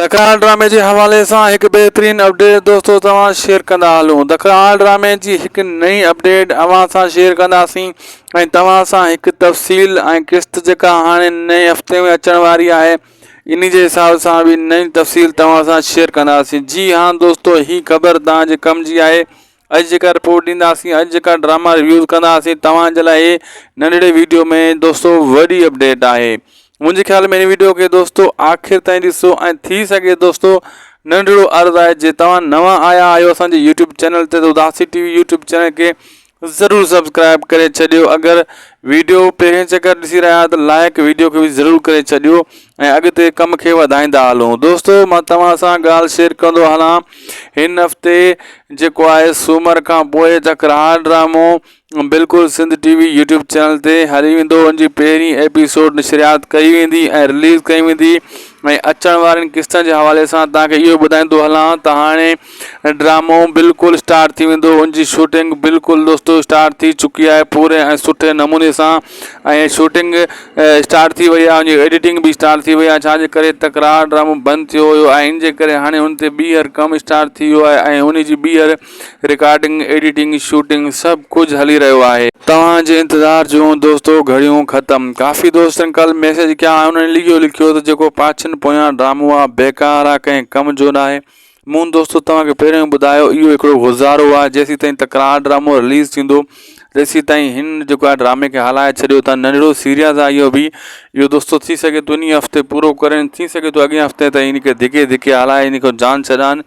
دکڻاڻ ڊرامي جي حوالي سان هڪ بهترين اپڊيٽ دوستو توهان شيئر ڪندا هلون دکڻاڻ ڊرامي جي هڪ نئين اپڊيٽ اوهان سان شيئر ڪنداسين ۽ توهان سان هڪ تفصيل ۽ قسط جيڪا هاڻي نئين هفتي ۾ اچڻ واري آهي انهي جي حساب سان به نئين تفصيل توهان سان شيئر ڪنداسين جي هان دوستو هي خبر توهان جي ڪم جي آهي اڄ جيڪا رپورٽ ڏينداسين اڄ جيڪا ڊراما ريويوز ڪنداسين توهان جي لاء هي ننڍڙي ويڊيو ۾ دوستو وڏي اپڊيٽ آهي منهنجي خيال ۾ هن ويڊيو کي دوستو آخر تائين ڏسو ۽ ٿي سگهي دوستو ننڍڙو عرض آهي جي توهان نوان آيا آهيو اسان جي يوٽيوب چينل تي ته اداسي ٽي وي يوٽيوب چينل کي ضرور سبسڪرائب ڪري ڇڏيو اگر ويڊيو پهرين چڪر ڏسي رهيا آهيو ته لائق ويڊيو کي به ضرور ڪري ڇڏيو ۽ اڳتي ڪم کي وڌائيندا هلون دوستو مان توهان سان ڳالهه شيئر ڪندو هلان هن هفتي جيڪو آهي سومر کان پوء جکرهار ڊرامو بلڪل Sindh T V YouTube channel تي هلي ويندو ان جي پهرين ايپيسوڊ نشريات ڪئي ويندي ۽ رليز ڪئي ويندي ۽ اچڻ وارين قسطن جي حوالي سان توهان کي اهو ٻڌائيندو هلان ته هاڻي ڊرامو بلڪل اسٽارٽ ٿي ويندو ان جي شوٽنگ بلڪل دوستو اسٽارٽ ٿي چڪي آهي پوري ۽ سٺي نموني سان ۽ شوٽنگ اسٽارٽ ٿي وئي آهي ان جي ايڊيٽنگ به اسٽارٽ ٿي وئي آهي ڇا جي ڪري تڪرار ڊرامو بند ٿيو هيو ۽ ان جي ڪري هاڻي ان تي ٻيهر ڪم اسٽارٽ ٿي ويو آهي ۽ ان جي ٻيهر رڪارڊنگ ايڊيٽنگ شوٽنگ سڀ ڪجهه هلي رهيو آهي. توهان جي انتظار جون دوستو گهڙيون ختم ڪافي دوستن ڪل ميسيج ڪيا ۽ انهن اهو لکيو ته جيڪو پاڇين پويان ڊرامو آ بيڪار آ ڪنهن ڪم جو ناهي مون دوستو توهان کي پهريون ئي ٻڌايو اهو هڪڙو گذارو آهي جيسين تائين تڪرار ڊرامو رليز ٿيندو تيسين تائين هن جيڪو آهي ڊرامي کي هلائي ڇڏيو ته ننڍڙو سيريز آهي اهو به اهو دوستو ٿي سگهي ٿو انهي هفتي پورو ڪري ٿي سگهي ٿو اڳين هفتي تائين ان کي ڌڪي ڌڪي هلائي ان کي جان ڇڏائن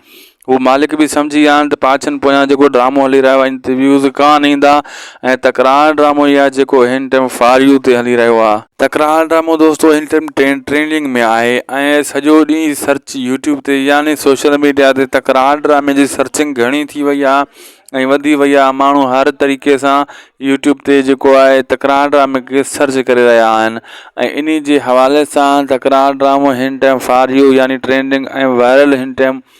هو مالڪ به سمجهي ويا آهن ته پاڇن پويان جيڪو ڊرامو هلي رهيو آهي ان تي ويوز ڪانه ايندا ۽ تڪرار ڊرامو اهي آهي جيڪو هن ٽائيم فار يو تي هلي رهيو آهي تڪرار ڊرامو دوستو هن ٽائيم ٽرينڊنگ ۾ آهي ۽ سڄو ڏينهن سرچ يوٽيوب تي يعني سوشل ميڊيا تي تڪرار ڊرامي جي سرچنگ گهڻي ٿي وئي آهي ۽ وڌي وئي آهي ماڻهو هر طريقي سان يوٽيوب تي جيڪو آهي تڪرار ڊرامي کي سرچ ڪري رهيا آهن ۽ انهي جي حوالي سان تڪرار ڊرامو هن ٽائيم فار يو يعني ٽرينڊنگ ۽ وائرل هن ٽائيم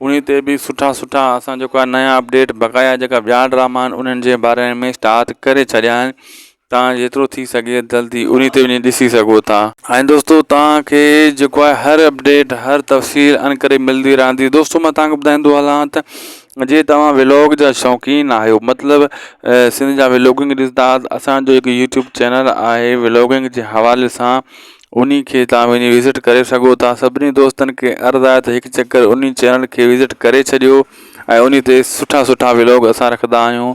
انهي تي به سٺا سٺا اسان جيڪو آهي نيا اپڊيٽ بقايا جيڪا ٻيا ڊراما آهن انهن جي باري ۾ اسٽارٽ ڪري ڇڏيا آهن توهان جيترو ٿي سگهي جلدي انهي تي وڃي ڏسي سگهو ٿا. ۽ دوستو توهان کي جيڪو آهي هر اپڊيٽ هر تفصيل انڪري ملدي رهندي دوستو مان توهان کي ٻڌائيندو هلان ته جي توهان ولاگ جا شوقين آهيو مطلب سنڌ جا ولاگنگ ڏسندا اسان جو هڪ يوٽيوب چينل آهي ولاگنگ جي حوالي سان انهي کي تهان وڃي وزٽ ڪري سگهو ٿا سڀني دوستن کي عرض آهي ته هڪ چڪر انهي چينل کي وزٽ ڪري ڇڏيو ۽ انهي تي سٺا سٺا ولاگ اسان رکندا آهيون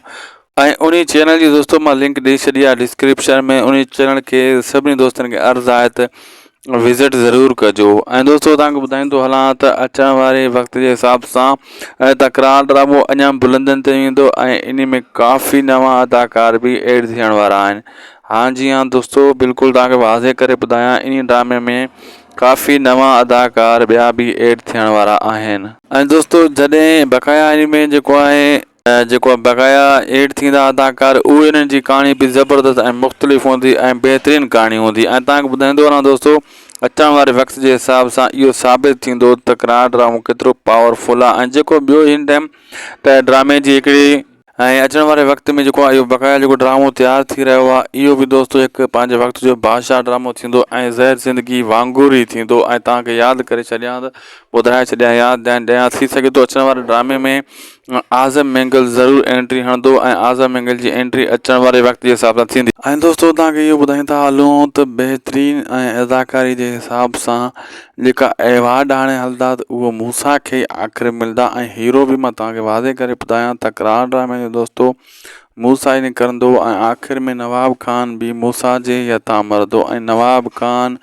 ۽ انهي چينل جي دوستو مان لنڪ ڏئي ڇڏي آهي ڊسڪرپشن ۾ انهي چينل کي سڀني دوستن کي عرض آهي ته وزٽ ضرور ڪجو ۽ دوستو تهان کي ٻڌائيندو هلان ته اچڻ واري وقت جي حساب سان تڪرار ڊرامو اڃا بلندين تي ويندو ۽ انهي ۾ ڪافي نوان اداڪار به ايڊ ٿيڻ وارا آهن ها جي ها دوستو بلڪل توهان کي واضح ڪري ٻڌايان انهي ڊرامي ۾ ڪافي نوان اداڪار ٻيا به ايڊ ٿيڻ وارا آهن ۽ دوستو جڏهن بقايا انمي جيڪو آهي جيڪو بقايا ايڊ ٿيندا اداڪار اهي انهن جي ڪهاڻي به زبردست ۽ مختلف هوندي ۽ بهترين ڪهاڻي هوندي ۽ توهان کي ٻڌائيندو هلان دوستو اچڻ واري وقت جي حساب سان اهو ثابت ٿيندو ته ڪناڊ ڊرامو ڪيترو پاور فل آهي ۽ جيڪو ٻيو هن ٽائم ته ڊرامي جي هڪڙي ۽ اچڻ واري وقت ۾ جيڪو اهو بقايا جيڪو ڊرامو تيار ٿي رهيو آهي اهو به دوستو هڪ پنهنجي وقت جو بادشاهه ڊرامو ٿيندو ۽ زهر زندگي وانگر ئي ٿيندو ۽ توهان کي ياد ڪري ڇڏيان ته ٻڌائي ڇڏيان ياد ڏيان ڏيان ٿي سگهي ٿو اچڻ واري ڊرامي ۾ اعظم مينگل ضرور انٽري هڻندو ۽ اعظم مينگل جي انٽري اچڻ واري وقت جي حساب سان ٿيندي. ۽ دوستو توهان کي اهو ٻڌائيندا هلون ته بهترين ۽ اداڪاري جي حساب سان جيڪا احوال ڏاڻي هلندا ته اهو موسيٰ کي ئي آخر ملندا ۽ هيرو به مان توهان کي واضح ڪري ٻڌايان تڪرار ڊرامي جو دوستو موسيٰ ئي نڪرندو ۽ آخر ۾ نواب خان به موسيٰ جي ئي هٿان مرندو ۽ نواب خان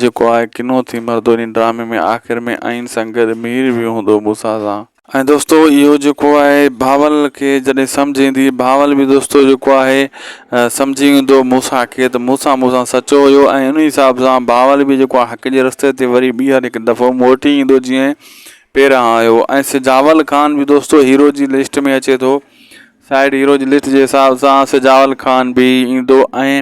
جيڪو آهي ڪنو ٿي مرندو انهي ڊرامي ۾ آخر ۾ ائين سان گڏ مير به هوندو موسيٰ سان. ۽ دوستو اهو جيڪو آهي بهاول کي جڏهن سمجهه ايندي بهاول به دوستو جيڪو آهي سمجهي ويندو موسيٰ کي ته موسيٰ مون سان سچو هيو ۽ ان حساب سان بهاول به جيڪو آهي حق جي رستي تي وري ٻيهر هڪ دفعو موٽي ايندو جيئن پهريان آيو ۽ سجاول خان به دوستو هيرو جي لسٽ ۾ اچي ٿو سائيڊ هيروز لسٽ جي حساب سان سجاول خان به ايندو ۽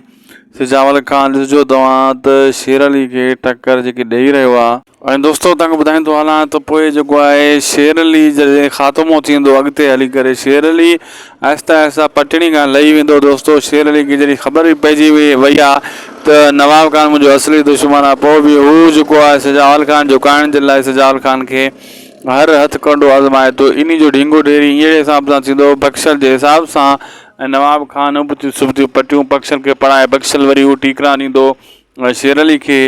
سجاول خان ڏسجو توهان ته شير علي کي ٽڪر جيڪي ڏئي رهيو آ. ۽ دوستو تنگ ٻڌائيندو هلان ته پوء جيڪو آهي شير علي جڏهن خاتمو ٿيندو اڳتي هلي ڪري شير علي آهستي آهستي پٽڙي کان لهي ويندو دوستو شير علي کي جڏهن خبر به پئجي وئي آ ته نواب خان منهنجو اصلي دشمن آ پوء به هو جيڪو آهي سجاول خان جهڪائڻ جي لاء سجاول خان کي هر هٿ ڪنڊو آزمائي ٿو. انهي جو ڍينگو ڍيري هينئڙي حساب سان ٿيندو هو، بخشل جي حساب سان ۽ نواب خان ابتيون سبتيون پٽيون بخشل کي پڙهائي بخشل وري اهو ٽيڪرا ڏيندو هو شيرعلي کي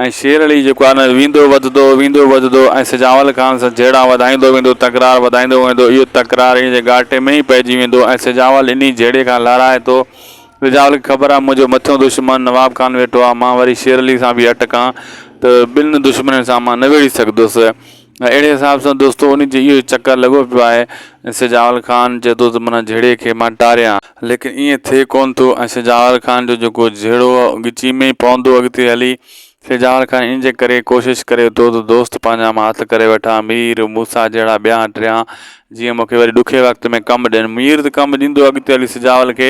۽ شيرعلي جيڪو آهي نه ويندو وڌندو ويندو وڌندو ۽ سجاول خان سان جهيڙا وڌائيندو ويندو تڪرار وڌائيندو ويندو اهو تڪرار انهي جي ڳاٽي ۾ ئي پئجي ويندو ۽ سجاول انهي جهيڙي کان لارائي ٿو رجاول کي خبر آ منهنجو مٿيون دشمن نواب خان ويٺو آ مان وري شير علي سان به اٽ ڪان ته ٻن دشمنن سان مان نه ويڙهي سگهندس اهڙي حساب سان دوستو انهي جو اهو ئي چڪر لڳو پيو آهي ۽ سجاول خان چئي ٿو ته منا جهيڙي کي مان ٽاريان ليڪن ائين ٿئي ڪونه ٿو ۽ سجاول خان جو جيڪو جهيڙو هو ڳچي ۾ ئي پوندو اڳتي هلي سجاوڙ کان ان جي ڪري ڪوشش ڪري ٿو ته دوست پنهنجا مان هٿ ڪري وٺان، مير موسيٰ جهڙا ٻيا ٽيان، جيئن مون کي وري ڏکئي وقت ۾ ڪم ڏين. مير ته ڪم ڏيندو اڳتي هلي سجاول کي،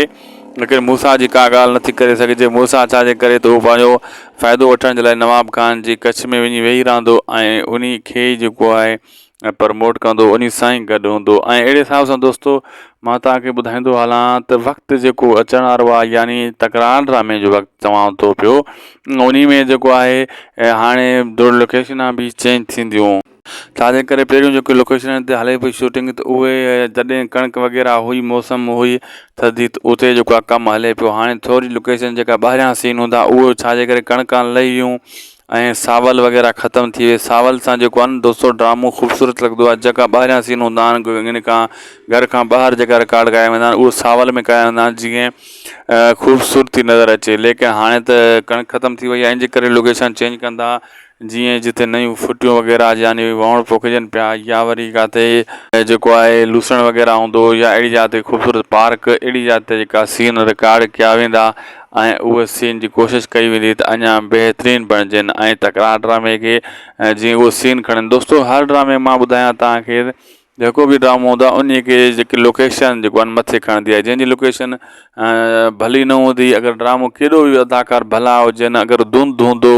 ليڪن موسيٰ جي ڪا ڳالهه نٿي ڪري سگهجي. موسيٰ ڇا جي ڪري ته هو پنهنجو فائدو وٺڻ جي لاء نواب خان جي ڪڇ ۾ وڃي ويهي رهندو ۽ انهي کي ئي جيڪو آهي ۽ پرموٽ ڪندو انهي سان ئي گڏ هوندو ۽ اهڙي حساب سان دوستو مان توهان کي ٻڌائيندو هلان ته وقت جيڪو اچڻ وارو آهي يعني تڪرار ڊرامي جو وقت چوان ٿو پيو انهي ۾ جيڪو آهي هاڻي دور لوڪيشنا به چينج ٿينديون ڇاجي ڪري پهريون جيڪي لوڪيشنن تي هلي پئي شوٽنگ ته اهي جڏهن ڪڻڪ وغيره هئي موسم هئي ٿڌي ته اتي جيڪو آهي ڪم هلي پيو هاڻي ٿوري لوڪيشن جيڪا ٻاهريان سين هوندا اهي ڇاجي ڪري ڪڻڪان لهيون ۽ ساول وغيره ختم ٿي وئي ساول سان جيڪو آھي نه دوستو ڊرامو خوبصورت لڳندو آھي جيڪا ٻاھريان سين ھوندا آھن ان کان گھر کان ٻاھر جيڪا رڪارڊ ڪيا ويندا آھن اھو ساول ۾ ڪيا ويندا آھن جيئن خوبصورتي نظر اچي ليڪن ھاڻي ته ڪڻڪ ختم ٿي وئي آھي ان جي ڪري لوڪيشن چينج ڪندا جيئن جتي نيون ڦٽيون وغيره يعني وھونڙ پوکجن پيا يا وري ڪاتي جيڪو آھي لوسڻ وغيره ھوندو يا اھڙي جاء تي خوبصورت پارڪ اھڙي جاء تي جيڪا سين رڪارڊ ڪيا ويندا ۽ اهو سين جي ڪوشش ڪئي ويندي ته اڃا بهترين بڻجين ۽ تڪرار ڊرامي کي جيئن اهو سين کڻن دوستو هر ڊرامي مان ٻڌايان توهان کي جيڪو به ڊرامو هوندو آهي انهي کي جيڪي لوڪيشن جيڪو آهن مٿي کڻندي آهي جنهن جي لوڪيشن ڀلي نه هوندي اگر ڊرامو ڪيڏو به اداڪار ڀلا هجن اگر ڌنڌ هوندو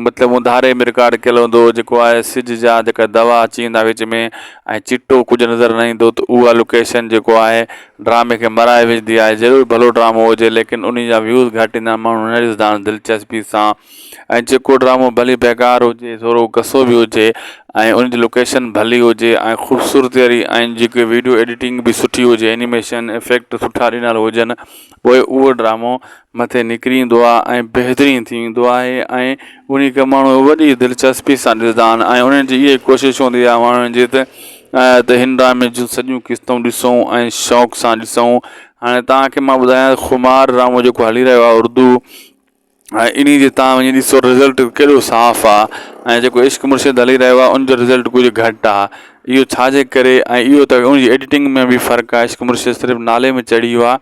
مطلب اون ڌاري ۾ رڪارڊ ڪيل هوندو جيڪو آء ايس سج جا جيڪا دوا اچي ويندا وچ ۾ ۽ چٽو ڪجهه نظر نه ايندو ته اها لوڪيشن جيڪو آهي ڊرامي کي مرائي وجهندي آهي ضرور ڀلو ڊرامو هجي ليڪن انهي جا ويوز گهٽ ايندا آهن ماڻهو نه ڏسندا آهن دلچسپي سان ۽ جيڪو ڊرامو ڀلي بيڪار هجي ٿورو گسو به هجي ۽ انهي جي لوڪيشن ڀلي هجي ۽ خوبصورتي واري ۽ جيڪي ويڊيو ايڊيٽنگ به سٺي هجي اينيميشن افيڪٽ سٺا ڏنل هجن پوء اهو ڊرامو مٿي نڪري ايندو آهي ۽ بهترين ٿي ويندو آهي ۽ انهي کي ماڻهو وڏي دلچسپي سان ڏسندا آهن ۽ انهن جي اهي ڪوشش هوندي آهي ماڻهن جي ته ته هن ڊرامي جون سڄيون قسطون ڏسون ۽ شوق سان ڏسون هاڻي تهان کي مان ٻڌايان خمار ڊرامو جيڪو هلي رهيو آهي اردو ان جي تان وڃي ڏسو رزلٽ ڪيڏو صاف آ ۽ جيڪو عشق مرشد هلي رهيو آ ان جو رزلٽ ڪجهه گهٽ آ اهو ڇا جي ڪري ۽ اهو ته ان جي ايڊيٽنگ ۾ به فرق آ عشق مرشد صرف نالي ۾ چڙهي ويو آ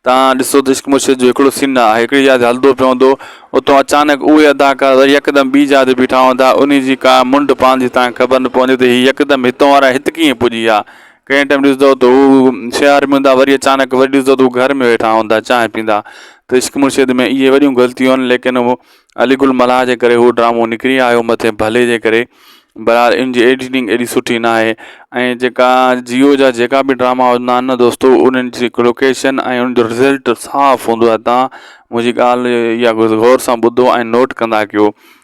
تان ڏسو ته عشق مرشد جو هڪڙو سين آ هڪڙي جاء تي هلدو پيو هوندو اتو اچانڪ اهي اداڪار وري يڪدم ٻي جاء تي بيٺا هوندا ان جي ڪا منڊ پاندي تان کي خبر نه پوندي ته هي يڪدم هتون وارا هت ڪيئن پڄي ويا ڪنهن ٽيم ڏسندو ته هو شهر ۾ هوندا وري اچانڪ وري ڏسندو ته هو گهر ۾ ويٺا هوندا چانهه پيندا ته عشق مرشد ۾ اهي وڏيون غلطيون آهن ليڪن هو علي گل ملاح جي ڪري هو ڊرامو نڪري آيو مٿين ڀلي جي ڪري بهرحال ان جي ايڊيٽنگ ايڏي سٺي نه آهي ۽ جيڪا جيو جا جيڪا به ڊراما هوندا آهن نه دوستو انهن جي لوڪيشن ۽ ان جو رزلٽ صاف هوندو آهي تان منهنجي ڳالهه اها غور سان ٻڌو ۽ نوٽ ڪندا ڪيو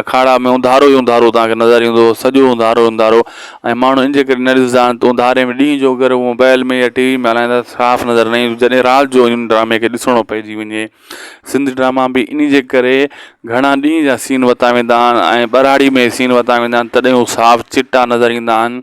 اکاڙا ۾ اونڌارو ئي اونڌارو توهان کي نظر ايندو، سڄو اونڌارو ئي اونڌارو ۽ ماڻهو ان جي ڪري نه ڏسندا آهن ته اونڌاري ۾ ڏينهن جو اگر موبائل ۾ يا ٽي وي ۾ هلائيندا ته صاف نظر نه ايندو جڏهن رات جو ان ڊرامي کي ڏسڻو پئجي وڃي. سنڌ ڊراما به ان جي ڪري گهڻا ڏينهن جا سين ورتا ويندا آهن ۽ ٻهراڙي ۾ سين ورتا ويندا آهن تڏهن هو صاف چٽا نظر ايندا آهن.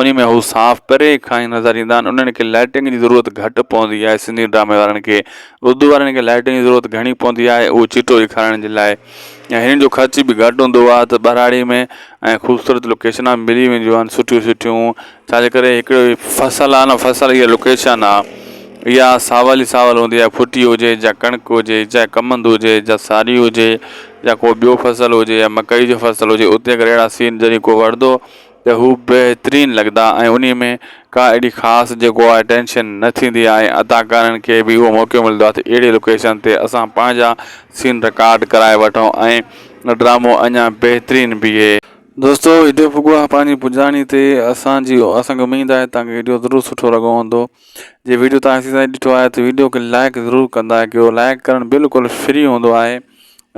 انهي ۾ هو صاف پري کان ئي نظر ايندا آهن انهن کي لائٽنگ جي ضرورت گهٽ پوندي آهي سنڌي ڊرامي وارن کي اردو وارن کي لائٽنگ جي ضرورت گهڻي پوندي آهي اهو چٽو ڏيکارڻ جي لاء ۽ هنن جو خرچ به گهٽ هوندو آهي ته ٻهراڙي ۾ ۽ خوبصورت لوڪيشنا ملي وينديون آهن سٺيون سٺيون ڇا جي ڪري هڪڙو هي فصل آهي نه فصل هي لوڪيشن آهي اها ساول ئي ساول هوندي آهي ڦٽي هجي جا ڪڻڪ هجي جا ڪمند هجي جا ساري هجي جا ڪو ٻيو فصل هجي يا مڪئي جو فصل هجي اتي اگر اهڙا سين جڏهن ڪو وڙهندو ته هو بهترين لڳندا ۽ انهي ۾ ڪا اهڙي خاص جيڪو آهي ٽينشن نه ٿيندي آهي ۽ اداڪارن کي به اهو موقعو ملندو آهي ته اهڙي لوڪيشن تي اسان پنهنجا سين رڪارڊ ڪرائي وٺون ۽ ڊرامو اڃا بهترين بيهي. دوستو وڊيو پڳو آهي پنهنجي پڄاڻي تي اسان جي اسان کي اميد آهي توهان کي وڊيو ضرور سٺو لڳو هوندو جي وڊيو توهان ايسي تائين ڏٺو آهي ته وڊيو کي لائڪ ضرور ڪندا ڪيو لائڪ ڪرڻ بلڪل فري هوندو آهي.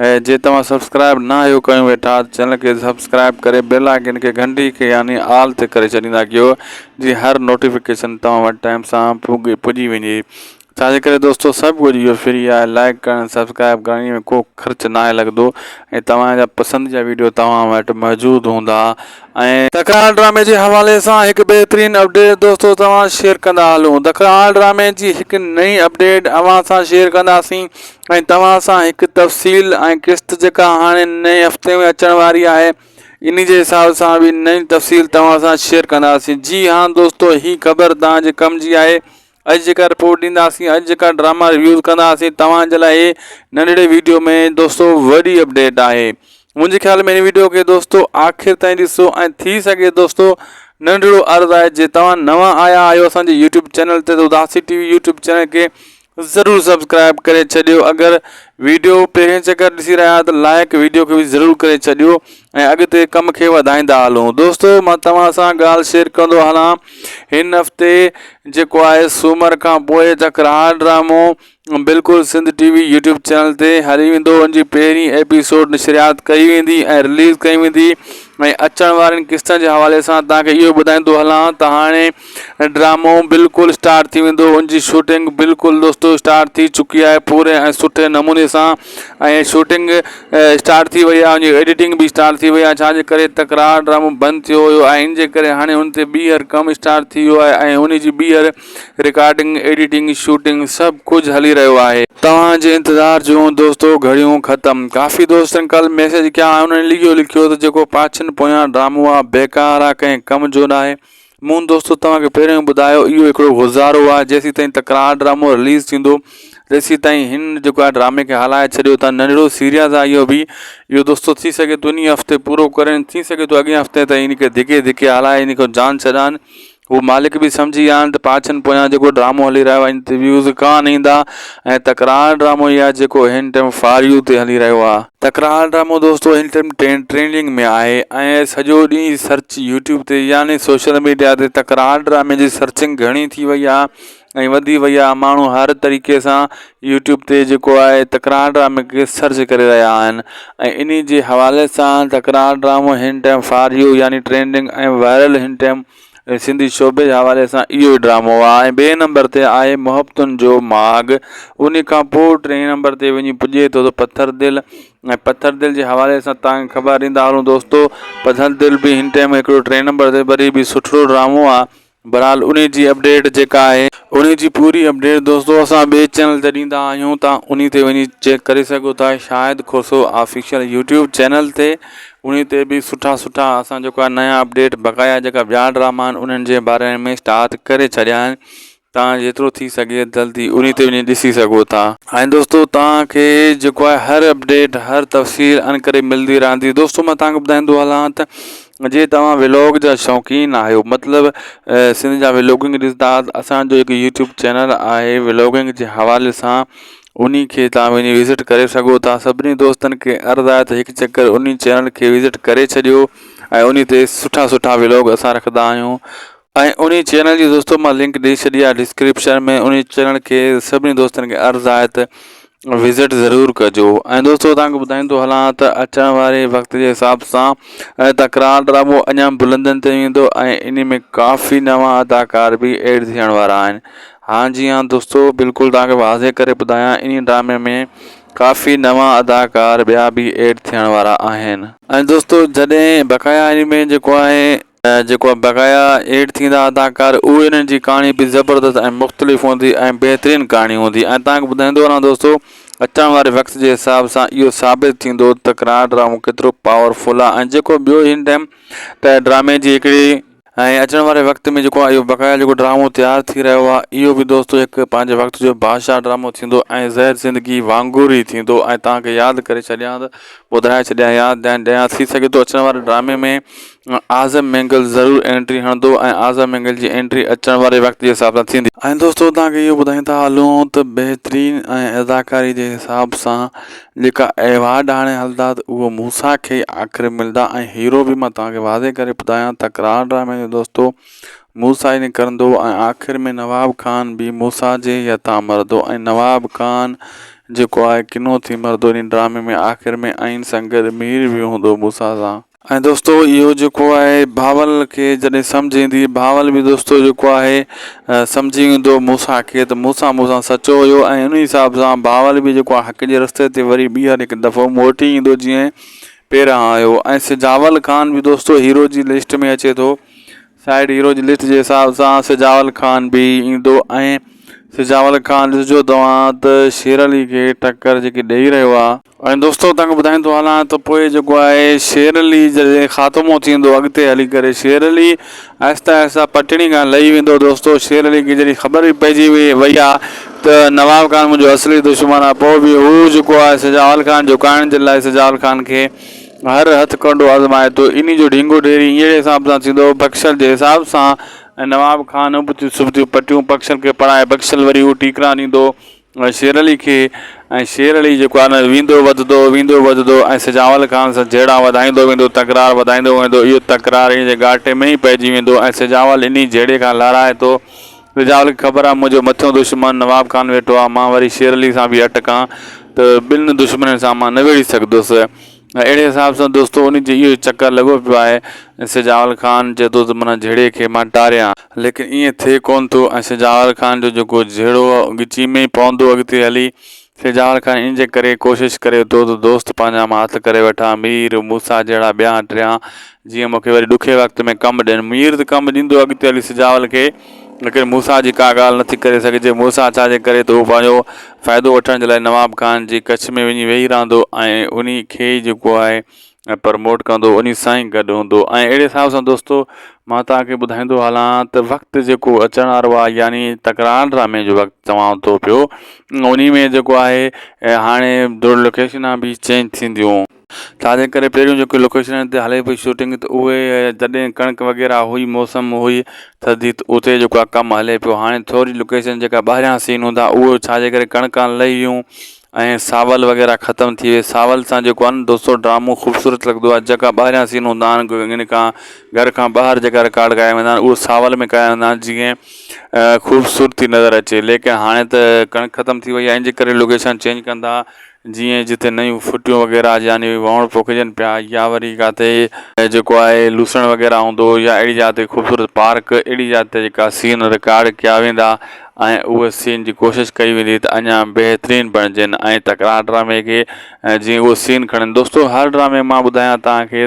اهي جي توهان سبسڪرائب نه آهيو ڪيون ويٺا ته چينل کي سبسڪرائب ڪري بيل آئيڪن کي گهنٽي کي يعني آل تي ڪري ڇڏيندا ڪيو جي هر نوٽيفڪيشن توهان وٽ ٽائيم سان پوگي پڄي وڃي ڇا جي ڪري دوستو سڀ ڪجهه اهو فري آهي لائيڪ ڪرڻ سبسڪرائب ڪرڻ ان ۾ ڪو خرچ ناهي لڳندو ۽ توهان جا پسند جا ويڊيو توهان وٽ موجود هوندا ۽ دکرال ڊرامي جي حوالي سان هڪ بهترين اپڊيٽ دوستو توهان شيئر ڪندا هلون دکرال ڊرامي جي هڪ نئين اپڊيٽ اوهان سان شيئر ڪنداسين ۽ توهان سان هڪ تفصيل ۽ قسط جيڪا هاڻي نئين هفتي ۾ اچڻ واري آهي انهي جي حساب سان به نئين تفصيل توهان سان شيئر ڪنداسين جي ها دوستو هي خبر توهان جي ڪم جي آهي اڄ جيڪا رپورٽ ڏينداسين اڄ جيڪا ڊراما ريويوز ڪنداسين توهان جي لاء هي ننڍڙي ويڊيو ۾ دوستو وڏي اپڊيٽ آهي منهنجي خيال ۾ هن ويڊيو کي دوستو آخر تائين ڏسو ۽ ٿي سگهي دوستو ننڍڙو عرض آهي جي توهان نوان آيا آهيو اسان جي يوٽيوب چينل تي ته اداسي ٽي وي يوٽيوب چينل کي ضرور سبسڪرائب ڪري ڇڏيو اگر ويڊيو پهرين چڪر ڏسي رهيا آهيو ته لائڪ ويڊيو کي به ضرور ڪري ڇڏيو ۽ اڳتي ڪم کي وڌائيندا هلون دوستو مان توهان سان ڳالهه شيئر ڪندو هلان هن هفتي جيڪو آهي سومر کان پوء جکرهار ڊرامو بلڪل Sindh T V YouTube channel تي هلي ويندو ان جي پهرين ايپيسوڊ نشريات ڪئي ويندي ۽ رليز ڪئي ويندي ۽ اچڻ وارين قسطن جي حوالي سان تهانکي اهو ٻڌائيندو هلان ته هاڻي ۽ ڊرامو بلڪل اسٽارٽ ٿي ويندو ان جي شوٽنگ بلڪل دوستو اسٽارٽ ٿي چڪي آهي پوري ۽ سٺي نموني سان ۽ شوٽنگ اسٽارٽ ٿي وئي آهي ۽ ايڊيٽنگ به اسٽارٽ ٿي وئي آهي ڇا جي ڪري تڪرار ڊرامو بند ٿيو هيو ۽ ان جي ڪري هاڻي ان تي ٻيهر ڪم اسٽارٽ ٿي ويو آهي ۽ ان جي ٻيهر رڪارڊنگ ايڊيٽنگ شوٽنگ سڀ ڪجهه هلي رهيو آهي توهان جي انتظار جون دوستو گهڙيون ختم ڪافي دوستن ڪل ميسيج ڪيا آهن انهن لکيو لکيو ته جيڪو پاڇين پويان ڊرامو آهي بيڪار آهي ڪنهن ڪم جو ناهي مون دوستو توهان کي پهريون ئي ٻڌايو اهو هڪڙو گذارو آهي جيسين تائين تڪرار ڊرامو رليز ٿيندو تيسين تائين هن جيڪو آهي ڊرامي کي هلائي ڇڏيو ته ننڍڙو سيريز آهي اهو به اهو دوستو ٿي سگهي ٿو انهي هفتي پورو ڪرين ٿي سگهي ٿو اڳين هفتي تائين ان کي ڌڪي ڌڪي هلائي ان کي جان ڇڏائن هو مالڪ به سمجهي ويا آهن ته پاڇن پويان جيڪو ڊرامو هلي رهيو آهي ان تي ويوز ڪانه ايندا ۽ تڪرار ڊرامو اهي آهي جيڪو هن ٽيم فار يو تي هلي رهيو آهي. تڪرار ڊرامو دوستو هن ٽيم ٽرينڊنگ ۾ آهي ۽ سڄو ڏينهن سرچ يوٽيوب تي يعني سوشل ميڊيا تي تڪرار ڊرامي جي سرچنگ گهڻي ٿي وئي آهي ۽ وڌي وئي آهي ماڻهو هر طريقي سان يوٽيوب تي جيڪو آهي تڪرار ڊرامي کي سرچ ڪري رهيا آهن ۽ انهي جي حوالي سان تڪرار ڊرامو هن ٽيم فار يو يعني ٽرينڊنگ ۽ وائرل هن ٽيم سنڌي شعبي جي حوالي سان اهو ئي ڊرامو آهي ۽ ٻئي نمبر تي آهي محبتن جو ماڳ ان کان پوء ٽئي نمبر تي وڃي پڄي ٿو ته پٿر دل ۽ پٿر دل جي حوالي سان تانکي خبر ڏيندا هلون دوستو پٿر دل به هن ٽائيم هڪڙو ٽئي نمبر تي وري به سٺڙو ڊرامو آهي بھرحال انهي جي اپڊيٽ جيڪا آهي انهي جي پوري اپڊيٽ دوستو اسان ٻئي چينل تي ڏيندا آهيون تان انهي تي وڃي چيڪ ڪري سگهو ٿا Shahid Khoso official YouTube channel تي انهي تي به سٺا سٺا اسان جيڪو آهي نيا اپڊيٽ بقايا جيڪا ٻيا ڊراما آهن انهن جي باري ۾ اسٽارٽ ڪري ڇڏيا آهن تان جيترو ٿي سگهي جلدي انهي تي وڃي ڏسي سگهو ٿا. ۽ دوستو توهان کي جيڪو آهي هر اپڊيٽ هر تفصيل انڪري ملدي رهندي دوستو مان توهان کي ٻڌائيندو هلان ته جي توهان ولاگ جا شوقين آهيو مطلب سنڌ جا ولاگنگ ڏسندا اسان جو هڪ يوٽيوب چينل آهي ولاگنگ جي حوالي سان انهي کي تهان وڃي وزٽ ڪري سگهو ٿا سڀني دوستن کي عرض آهي ته هڪ چڪر انهي چينل کي وزٽ ڪري ڇڏيو ۽ انهي تي سٺا سٺا ولوگ اسان رکندا آهيون ۽ انهي چينل جي دوستو مان لنڪ ڏئي ڇڏي آهي ڊسڪرپشن ۾ انهي چينل کي سڀني دوستن کي عرض آهي ته وزٽ ضرور ڪجو ۽ دوستو تهان کي ٻڌائيندو هلان ته اچڻ واري وقت جي حساب سان تڪرار ڊرامو اڃا بلندين تي ويندو ۽ انهي ۾ ڪافي نوان اداڪار به ايڊ ٿيڻ وارا آهن ها جي ها دوستو بلڪل توهان کي واضح ڪري ٻڌايان انهي ڊرامي ۾ ڪافي نوان اداڪار ٻيا به ايڊ ٿيڻ وارا آهن. ۽ دوستو جڏهن بقايا انمي جيڪو آهي جيڪو بقايا ايڊ ٿيندا اداڪار اهي انهن جي ڪهاڻي به زبردست ۽ مختلف هوندي ۽ بهترين ڪهاڻي هوندي ۽ توهان کي ٻڌائيندو هلان دوستو اچڻ واري وقت جي حساب سان اهو ثابت ٿيندو ته ڪناڊ ڊرامو ڪيترو پاور فل آهي ۽ جيڪو ٻيو هن ٽائيم ته ڊرامي جي هڪڙي ۽ اچڻ واري وقت ۾ جيڪو اهو بقايا جيڪو ڊرامو تيار ٿي رهيو آهي اهو به دوستو هڪ پنهنجي وقت جو بادشاهه ڊرامو ٿيندو ۽ زهر زندگي وانگر ئي ٿيندو ۽ توهان کي ياد ڪري ڇڏيان ته ٻڌائي ڇڏيان ياد ڏيان ڏيان ٿي سگهي ٿو اچڻ واري ڊرامي ۾ اعظم مينگل ضرور انٽري هڻندو ۽ اعظم مينگل جي انٽري اچڻ واري وقت جي حساب سان ٿيندي. ۽ دوستو توهان کي اهو ٻڌائيندا هلون ته بهترين ۽ اداڪاري جي حساب سان جيڪا ايوارڊ آڻي هلندا ته اهو موسيٰ کي ئي آخر ملندا ۽ هيرو به مان توهان کي واضح ڪري ٻڌايان تڪرار ڊرامي جو دوستو موسيٰ ئي نڪرندو ۽ آخر ۾ نواب خان به موسيٰ جي ئي هٿان مرندو ۽ نواب خان جيڪو آهي ڪنو ٿي مرندو انهي ڊرامي ۾ آخر ۾ ائين سان گڏ مير به هوندو موسيٰ سان. ۽ دوستو اهو جيڪو آهي بهاول کي جڏهن سمجهه ايندي بهاول به دوستو جيڪو آهي سمجهي ويندو موسيٰ کي ته موسيٰ مون سان سچو هيو ۽ ان حساب سان بهاول به جيڪو آهي حق جي رستي تي وري ٻيهر هڪ دفعو موٽي ايندو جيئن پهريان آيو ۽ سجاول خان به دوستو هيرو جي لسٽ ۾ اچي ٿو سائيڊ هيرو جي لسٽ جي حساب سان سجاول خان به ايندو ۽ سجاول خان ڏسجو توهان ته شير علي کي ٽڪر جيڪي ڏئي رهيو آهي ۽ دوستو تنگ ٻڌائيندو هلان ته پوء جيڪو آهي شير علي جڏهن خاتمو ٿيندو اڳتي هلي ڪري شير علي آهستي آهستي پٽڙي کان لهي ويندو دوستو شير علي کي جڏهن خبر به پئجي وئي وئي آ ته نواب خان منهنجو اصلي دشمن آ پوء به هو جيڪو آهي سجاول خان جهڪائڻ جي لاء سجاول خان کي هر هٿ ڪنڊو آزمائي ٿو انهي جو ڍينگو ڍيري اهڙي حساب سان ٿيندو بخشل جي حساب سان ۽ نواب خان ابتيون سبتيون پٽيون بخشل کي پڙهائي بخشل وري هو ٽيڪرا ڏيندو ۽ شيرعلي کي ۽ شير علي جيڪو آهي نه ويندو وڌدو ويندو وڌدو ۽ سجاول خان سان جهيڙا وڌائيندو ويندو تڪرار وڌائيندو ويندو اهو تڪرار انهي جي ڳاٽي ۾ ئي پئجي ويندو ۽ سجاول انهي جهيڙي کان لارائي ٿو سجاول کي خبر آهي منهنجو مٿيون دشمن نواب خان ويٺو آهي مان وري شيرعلي سان به اٽڪان ته ٻن دشمنين سان مان نه ويڙهي سگهدس اهڙي حساب سان دوستو انهي جو اهو چڪر لڳو پيو آهي ۽ سجاول خان چئي ٿو ته من جهيڙي کي مان ٽاريان. ليڪن ائين ٿئي ڪونه ٿو ۽ سجاول خان جو جيڪو جهيڙو آهي اهو ڳچي ۾ ئي پوندو اڳتي هلي. سجاول خان ان جي ڪري ڪوشش ڪري ٿو ته دوست پنهنجا مان هٿ ڪري وٺان، مير، موسيٰ جهڙا ٻيا ٽيان، جيئن مون کي وري ڏکئي وقت ۾ ڪم ڏين. مير ته ڪم ڏيندو اڳتي هلي سجاول کي. ليڪن موسيٰ جي ڪا ڳالهه نٿي ڪري سگهجي. موسيٰ ڇا جي ڪري ته هو پنهنجو فائدو وٺڻ جي لاء نواب خان جي ڪڇ ۾ وڃي ويهي رهندو ۽ انهي کي ئي جيڪو آهي پرموٽ ڪندو انهي سان ئي گڏ هوندو ۽ اهڙي حساب سان دوستو مان توهان کي ٻڌائيندو هلان ته وقت جيڪو اچڻ وارو آهي يعني تڪرار ڊرامي جو وقت چوان ٿو پيو انهي ۾ جيڪو آهي هاڻي ڊور لوڪيشنا به چينج ٿينديون. ڇاجي ڪري پهريون جيڪي لوڪيشنن تي هلي پئي شوٽنگ ته اهي جڏهن ڪڻڪ وغيره هئي موسم هئي ٿڌي ته اتي جيڪو آ ڪم هلي پيو هاڻي ٿوري لوڪيشن جيڪا ٻاهريان سين هوندا اهو ڇاجي ڪري ڪڻڪان لهي ويون ۽ ساول وغيره ختم ٿي ويئي ساول سان جيڪو آ نه دوستو ڊرامو خوبصورت لڳندو آ جيڪا ٻاهريان سين هوندا آهن ان کان گهر کان ٻاهر جيڪا رڪارڊ ڪيا ويندا آهن اهو ساول ۾ ڪيا ويندا آهن جيئن خوبصورتي نظر اچي ليڪن هاڻي ته ڪڻڪ ختم ٿي وئي آهي ان جي ڪري لوڪيشن چينج ڪندا جيئن جتي نيون ڦٽيون وغيره يعني وهڻ پوکجن پيا يا وري ڪاٿي جيڪو آهي لوسڻ وغيره هوندو يا اهڙي جاء تي خوبصورت پارڪ اهڙي جاء تي جيڪا سين رڪارڊ ڪيا ويندا ۽ اهي سين جي ڪوشش ڪئي ويندي ته اڃا بهترين بڻجن ۽ تڪرار ڊرامي کي جيئن اهو سين کڻن دوستو هر ڊرامي مان ٻڌايان توهان کي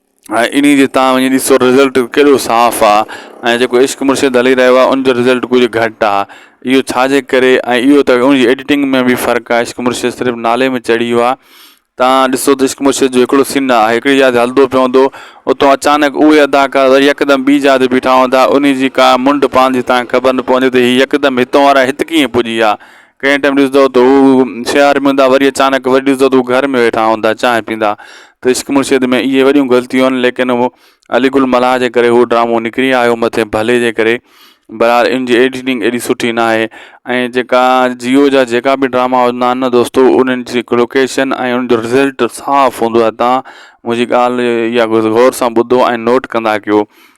۽ انهي جي تان وڃي ڏسو رزلٽ ڪيڏو صاف آ ۽ جيڪو عشق مرشد هلي رهيو آ ان جو رزلٽ ڪجهه گهٽ آ اهو ڇا جي ڪري ۽ اهو ته ان جي ايڊيٽنگ ۾ به فرق آ عشق مرشد صرف نالي ۾ چڙهي ويو آ تان ڏسو ته عشق مرشد جو هڪڙو سين آ هڪڙي جاء تي هلدو پيو هوندو اتو اچانڪ اهي اداڪار وري يڪدم ٻي جاء تي بيٺا هوندا انهي جي ڪا منڊ پاندي تان کي خبر نه پوندي ته هي يڪدم هتون وارا هت ڪيئن پڄي آ ڪنهن ٽيم ڏسندو ته هو شهر ۾ هوندا وري اچانڪ وري ڏسندو ته هو گهر ۾ ويٺا هوندا چانهه پيندا ته عشق مرشد ۾ اهي وڏيون غلطيون آهن ليڪن هو علي گل ملاح جي ڪري هو ڊرامو نڪري آيو مٿين ڀلي جي ڪري برحال ان جي ايڊيٽنگ ايڏي سٺي نه آهي ۽ جيڪا جيو جا جيڪا به ڊراما هوندا آهن نه دوستو انهن جي لوڪيشن ۽ ان جو رزلٽ صاف هوندو آهي تان منهنجي ڳالهه يا غور سان ٻڌو ۽ نوٽ ڪندا ڪيو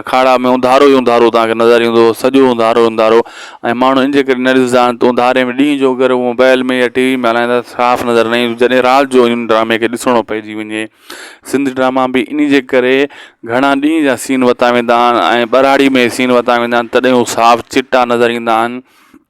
اکاڙا ۾ اونڌارو ئي اونڌارو توهان کي نظر ايندو سڄو اونڌارو ئي اونڌارو ۽ ماڻهو ان جي ڪري نه ڏسندا آهن ته اونڌاري ۾ ڏينهن جو اگر موبائل ۾ يا ٽي وي ۾ هلائيندا ته صاف نظر نه ايندو جڏهن رات جو ان ڊرامي کي ڏسڻو پئجي وڃي سنڌ ڊراما به ان جي ڪري گهڻا ڏينهن جا سين ورتا ويندا آهن ۽ ٻهراڙي ۾ سين ورتا ويندا آهن تڏهن هو صاف چٽا نظر ايندا آهن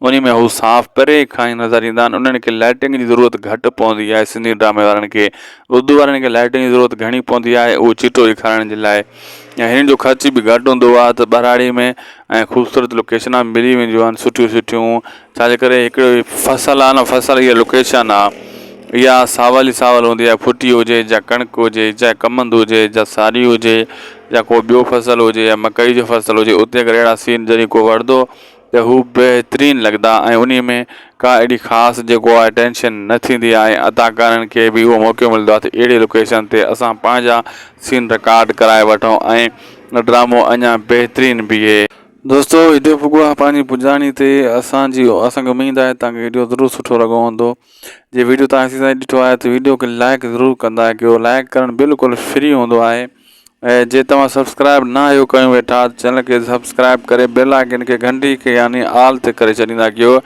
انهي ۾ هو صاف پري کان ئي نظر ايندا آهن انهن کي لائٽنگ جي ضرورت گهٽ پوندي آهي سنڌي ڊرامي وارن کي اردو وارن کي لائٽنگ جي ضرورت گهڻي پوندي آهي اهو چٽو ڏيکارڻ جي لاء ۽ هنن جو خرچ به گهٽ هوندو آهي ته ٻهراڙي ۾ ۽ خوبصورت لوڪيشنا ملي وينديون آهن سٺيون سٺيون ڇا جي ڪري هڪڙو هي فصل آهي نه فصل هي لوڪيشن آهي اها ساول ئي ساول هوندي آهي ڦٽي هجي جا ڪڻڪ هجي جا ڪمند هجي جا ساري هجي جا ڪو ٻيو فصل هجي يا مڪئي جو فصل هجي اتي اگر اهڙا سين جڏهن ڪو وڙهندو ته هو بهترين لڳندا ۽ انهي ۾ ڪا اهڙي خاص جيڪو آهي ٽينشن نه ٿيندي آهي ۽ اداڪارن کي به اهو موقعو ملندو آهي ته اهڙي لوڪيشن تي اسان پنهنجا سين رڪارڊ ڪرائي وٺون ۽ ڊرامو اڃا بهترين بيهي. دوستو وڊيو پڳو آهي پنهنجي پڄاڻي تي اسان جي اسان کي اميد آهي توهان کي وڊيو ضرور سٺو لڳو هوندو جي وڊيو توهان ايسي تائين ڏٺو آهي ته وڊيو کي لائڪ ضرور ڪندا ڪيو لائڪ ڪرڻ بلڪل فري هوندو آهي. ۽ جي توهان سبسڪرائب نه آهيو ڪيون ويٺا ته چينل کي سبسڪرائب ڪري بيل آئيڪن کي گهنٽي کي يعني آل تي ڪري ڇڏيندا ڪيو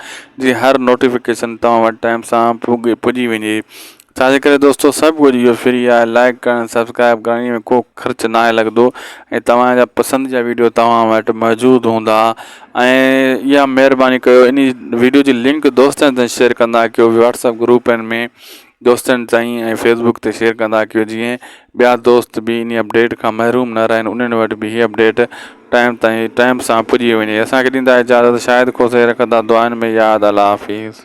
جي هر نوٽيفڪيشن توهان وٽ ٽائيم سان پوڳي پڄي وڃي ڇا جي ڪري دوستو سڀ ڪجهه اهو فري آهي لائيڪ ڪرڻ ۽ سبسڪرائب ڪرڻ انهي ۾ ڪو خرچ ناهي لڳندو ۽ توهان جا پسند جا ويڊيو توهان وٽ موجود هوندا ۽ اها مهرباني ڪيو انهي ويڊيو جي لنڪ دوستن سان شيئر ڪندا ڪيو واٽسپ گروپن ۾ دوستن تائين ۽ فيس بڪ تي شيئر ڪندا ڪيو جيئن ٻيا دوست به انهي اپڊيٽ کان محروم نه رهن انهن وٽ به هي اپڊيٽ ٽائيم تائين ٽائيم سان پڄي وڃي اسان کي ڏيندا اجازت شاهد کوسي رکندا دعائن ۾ ياد الله حافظ.